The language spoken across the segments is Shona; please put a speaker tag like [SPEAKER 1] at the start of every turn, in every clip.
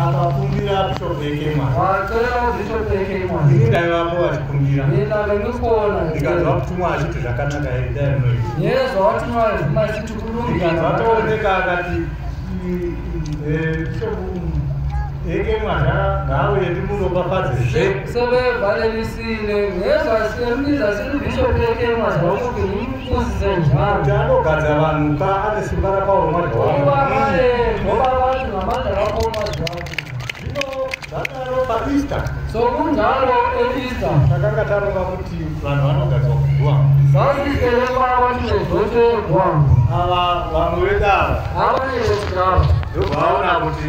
[SPEAKER 1] akakumbira bishop ekema watoyawo bishop ekema ini ndaivapo vachikumbira ndinavekuona ndikanzwa kutumwa achiti zvakanaka here ndainoi yeso watumwa vazima achiti kulungikanzwa tooneka akati bishop ekema ngaauye ndimuropafadze zve sevevalelis anogadza vanhu ka ane simba rakaoma easter so kunjalo easter takanga taronga kuti vanhu vanogadzwa kuguwa zasikereva vanhu vezoterwa ava vamwe vedava ava nevekudava ndobvaona kuti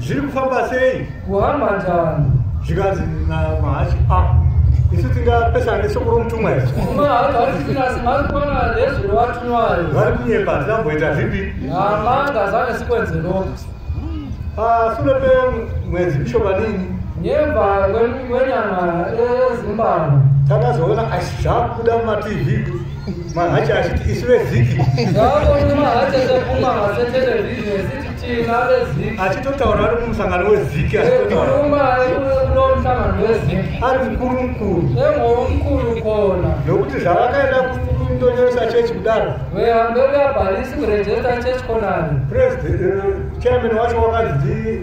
[SPEAKER 2] zviri kufamba
[SPEAKER 1] sei kuhamba njani
[SPEAKER 2] zvikanzi
[SPEAKER 1] namahachi a ah, isu tingapesana nesoko romutumwa iri
[SPEAKER 2] vari kunyepa
[SPEAKER 1] tinamboita zvipi pasure ah, pemwedzi mishomanini nyemba
[SPEAKER 2] kwenyama ezimbabwe takazoona
[SPEAKER 1] asi zvakubuda mumatv mahachi achiti isu veziki
[SPEAKER 2] achitotaura ari mumusangano
[SPEAKER 1] weziki
[SPEAKER 2] ari mukuru
[SPEAKER 1] mukuru
[SPEAKER 2] nokuti zvavakaenda
[SPEAKER 1] kundonyoresa chechi kudaro
[SPEAKER 2] chairman
[SPEAKER 1] wacho wakanzi